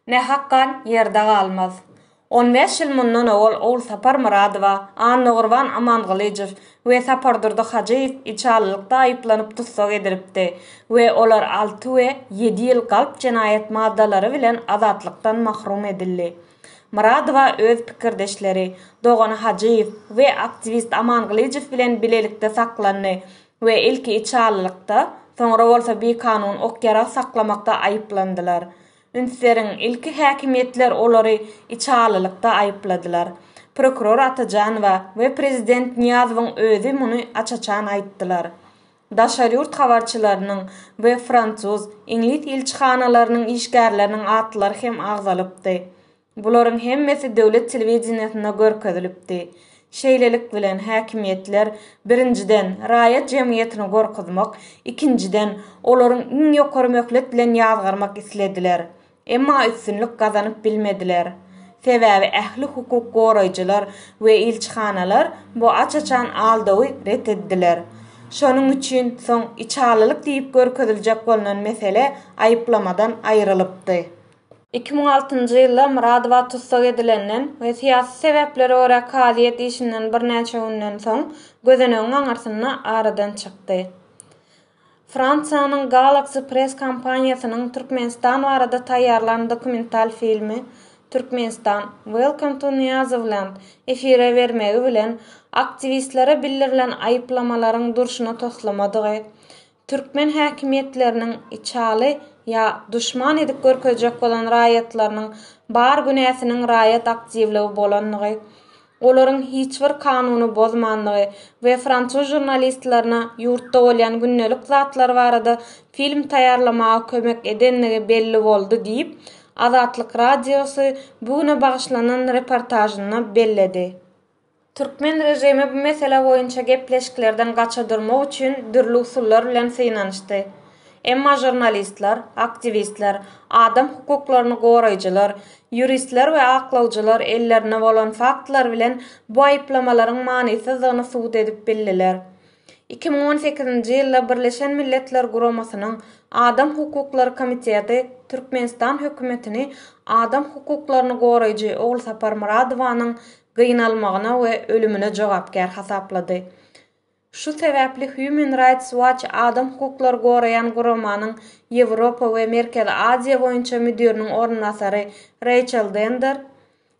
Ne hakgan ýerde galmaz. On bäş ýyl mundan owal Ogulsapar Myradowa, Annagurban Amangylyjow we Sapardurdy Hajyýew içalylykda aýyplanyp tussag edilipdi we olar alty we ýedi ýyl galp jenaýat maddalary bilen azatlykdan mahrum edildi. Myradowa öz pikirdeşleri, dogany Hajyýew we aktiwist Amangylyjow bilen bilelikde saklandy we ilki içalylykda, soňra bolsa bikanun ok-ýarag saklamakda aýyplandylar. Ünseriň ilki häkimiýetler olary içalylykda aýypladylar. Prokuror Atajanowa we prezident Nyýazowyň özi muny aç-açan aýtdylar. Daşary ýurt habarçylarynyň we fransuz, iňlis ilçihanalarynyň işgärleriniň atlary hem agzalypdy. Bularyň hemmesi döwlet telewideniýesinde görkezilipdi. Şeýlelik bilen, häkimiýetler, birinjiden, raýat jemgyýetini gorkuzmak, ikinjiden, olaryň iň ýokary möhlet bilen ýazgarmak islediler. Emma üstünlik gazanyp bilmediler. Sebäbi ähli hukuk goraýjylar we ilçihanalar bu aç-açan aldawy ret etdiler. Şonuň üçin soň içalylyk diýip görkeziljek bolnan mesele aýyplamadan aýrylypdy. Iki müň altynjy ýylda Myradowa tussag edilenden we syýasy sebäplere görä kazyýet işinden birnäçe günden soň gözenegiň aňyrsynda aradan çykdy. Fransiýanyň Galaxy Press kompaniýasynyň Türkmenistan barada taýýarlan dokumental filmi Türkmenistan, Welcome to Nyýazowland efire bermegi bilen aktiwistlere bildirilen aýyplamalaryň durşuna toslamadygy Türkmen häkimiýetleriniň içaly ýa duşman edip görkezjek bolan raýatlarynyň bar günäsiniň raýat aktiwligi bolandygy, olaryň hiç bir kanuny bozmandygy we fransuz žurnalistlerine ýurtda bolýan gündelik zatlar barada film taýýarlamaga kömek edendigi belli boldy diýip, Azatlyk Radiosy bu güne bagyşlanan reportažynda belledi. Türkmen režimi bu mesele boýunça gepleşiklerden gaça durmak üçin dürli usullar bilen synanyşdy. Emma žurnalistler, aktiwistler, adam hukuklaryny goraýjylar, ýuristler we aklawjylar ellerinde bolan faktlar bilen bu aýyplamalaryň manysyzdygyny subut edip bildiler. Iki müň on sekizinji ýylda Birleşen Milletler Guramasynyň Adam hukuklary komiteti Türkmenistan hökümetini adam hukuklaryny goraýjy Ogulsapar Myradowanyň gynalmagyna we ölümine jogapkär hasaplady. Şu sebäpli Human Rights Watch adam hukuklary goraýan guramanyň Ýewropa we Merkezi Aziýa boýunça müdiriniň orunbasary Reýçel Dender,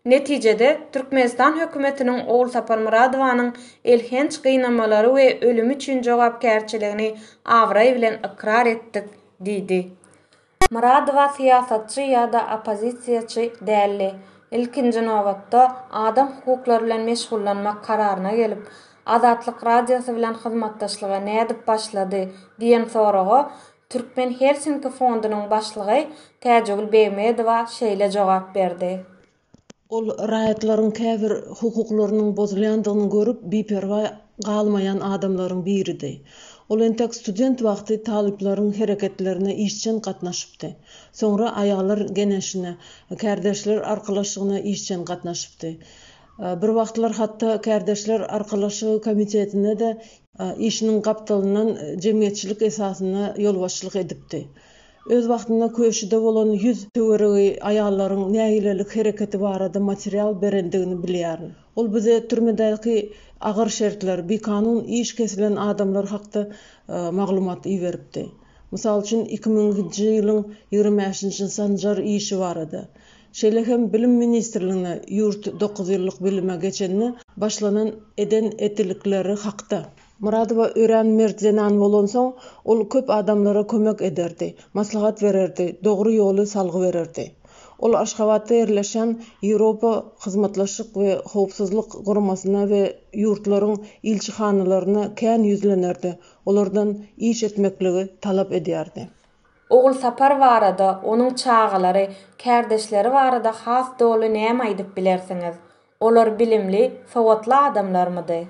Netijede, Türkmenistan hökümetiniň Ogulsapar Myradowanyň elhenç gynamalary we ölümi üçin jogapkärçiligini abraý bilen ykrar etdik diýdi. Myradowa syýasatçy ýa-da oppozisiýaçy däldi. Ilkinji nobatda, adam hukuklary bilen meşgullanmak kararyna gelip, Azatlyk Radiosy bilen hyzmatdaşlyga nädip başlady? diýen soraga Türkmen Helsinki fondunyň başlygy Täjigül Begmedowa şeýle jogap berdi. Ol raýatlaryň käbir hukuklarynyň bozulýandygyny görüp, biperwaý galmaýan adamlaryň biridi. Ol entek student wagty talyplaryň hereketlerine işjeň gatnaşypdy. Soňra aýallar geneşine, kärdeşler arkalaşygyna işjeň gatnaşypdy. Bir wagtlar hatda kärdeşler arkalaşygy komitetine-de işiniň gapdalyndan jemgyýetçilik esasynda ýolbaşçylyk edipdi. Öz wagtynda köşüde bolan ýüz töweregi aýallaryň nägilelik hereketi barada material berendigini bilýärin. Ol bize türmedäki agyr şertler, bikanun iş kesilen adamlar hakda maglumat iberipdi. Mysal üçin, iki müňünji ýylyň ýigrimi bäşinji sanjar işi barada. Şeýle hem Bilim ministrligine ýurt dokuz ýyllyk bilime geçende başlanan eden-edilikleri hakda. Myradowa örän mert zenan bolansoň, ol köp adamlara kömek ederdi, maslahat bererdi, dogry ýoly salgy bererdi. Ol Aşgabatda ýerleşýän Ýewropa Hyzmatlaşyk we Howpsuzlyk Guramasyna we ýurtlaryň ilçihanalaryna kän ýüzlenerdi, olardan iş etmekligi talap edýärdi. Ogulsapar barada, onuň çagalary, kärdeşleri barada has doly näme aýdyp bilersiňiz? Olar bilimli, sowatly adamlarmydy?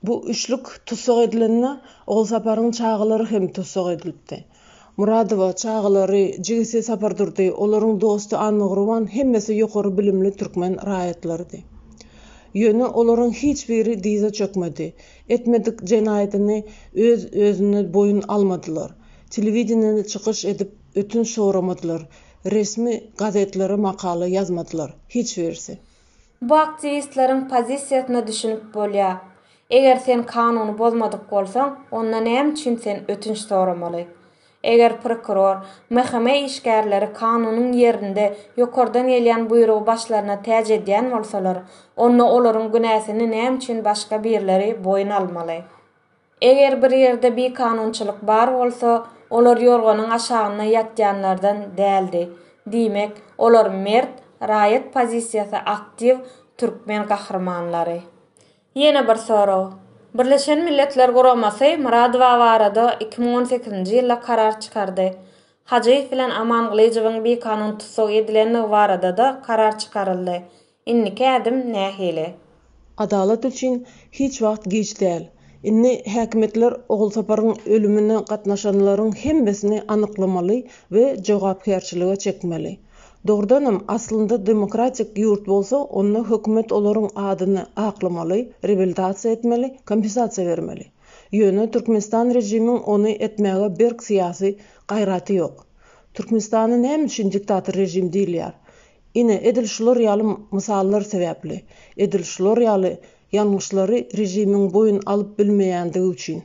Bu üçlük tussag edilende Ogulsaparyň çagalary hem tussag edilipdi. Muradowa, çagalary, jigisi Sapardurdy, olaryň dosty Annagurban hemmesi ýokary bilimli türkmen raýatlarydy. Ýöne olaryň hiç biri dyza çökmedi, etmedik jenaýadyny öz özüne boýun almadylar, telewideniýede çykyş edip ötünç soramadylar, resmi gazetlere makala ýazmadylar, hiç birisi. Bu aktiwistleriň pozisiýasyna düşünip bolýar. Eger sen kanuny bozmadyk bolsaň, onda näme üçin sen ötünç soramaly? Eger prokuror, MHM işgärleri kanunyň ýerinde ýokardan gelýän buýrugy başlaryna täç edýän bolsalar, onda olaryň günäsini näme üçin başga birleri boýun almaly? Eger bir ýerde bikanunçylyk bar bolsa, olar ýorganyň aşagynda ýatýanlardan däldi. Diýmek, olar mert, raýat pozisiýasy aktiw türkmen gahrymanlary. Ýene bir sorag. Birleşen Milletler Guramasy Myradowa barada iki müň on sekizinji ýylda karar çykardy. Hajyýew bilen Amangylyjowyň bikanun tussag edilendigi barada-da karar çykaryldy. Indiki ädim nähili? Adalat üçin hiç wagt giç däl. Indi häkimiýetler Ogulsaparyň ölümine gatnaşanlaryň hemmesini anyklamaly we jogapkärçilige çekmeli. Dogrudanam, aslynda demokratik ýurt bolsa, onda hökümet olaryň adyny aklamaly, reabilitasiýa etmeli, kompensasiýa bermeli. Ýöne Türkmenistan režimiň ony etmäge berk syýasy gaýraty ýok. Türkmenistana näme üçin diktator režim diýilýär? Ine, edil şular ýaly mysallar sebäpli, edil şular ýaly ýalňyşlary režimiň boýun alyp bilmeýändigi üçin.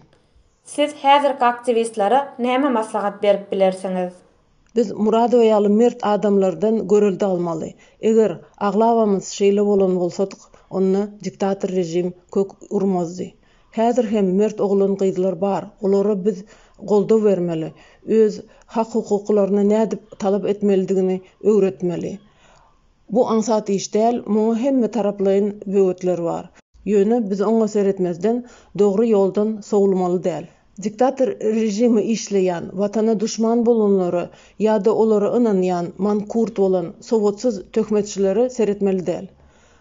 Siz häzirki aktiwistlere näme maslahat berip bilersiňiz? Biz Muradowa ýaly mert adamlardan görelde almaly. Eger aglabamyz şeýle bolan bolsadyk, onda diktator režim kök urmazdy. Häzir hem mert oglan-gyzlar bar, olara biz goldaw bermeli, öz hak-hukuklaryny nädip talap etmelidigini öwretmeli. Bu aňsat iş däl, muňa hemme taraplaýyn böwetler bar. Ýöne biz oňa seretmezden, dogry ýoldan sowulmaly däl. Diktator režimi işleýän, Watana duşman bolanlara ýa-da olara ynanýan, mankurt bolan, sowatsyz töhmetçilere seretmeli däl.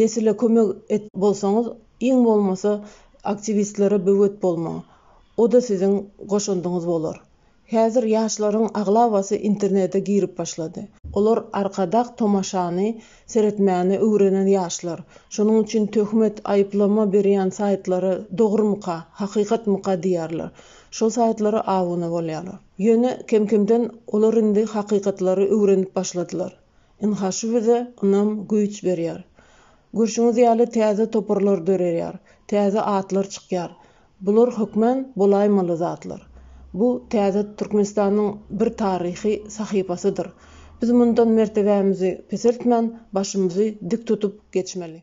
Nesile kömek et bolsaňyz iň bolmasa aktiwistlere böwet bolmaň. Oda siziň goşandyňyz bolar. Häzir ýaşlaryň aglabasy internete girip başlady. Olar arkadag tomaşany seretmäni öwrenen ýaşlar. Şonuň üçin töhmet, aýyplama berýän saýtlara dogrymyka, hakykatmyka diýýärler. Şol saýtlara abuna bolýarlar. Ýöne kemkemden olar indi hakykatlary öwrenip başladylar. Ynha şu bize ynam, güýç berýär. Görşüňiz ýaly täze toparlar dörerýär, täze atlar çykýar. Bular hökmän bolaýmaly zatlar. Bu täze Türkmenistanyň bir taryhy sahypasydyr. Biz mundan mertebämizi peseltmän, başymyzy dik tutup geçmeli.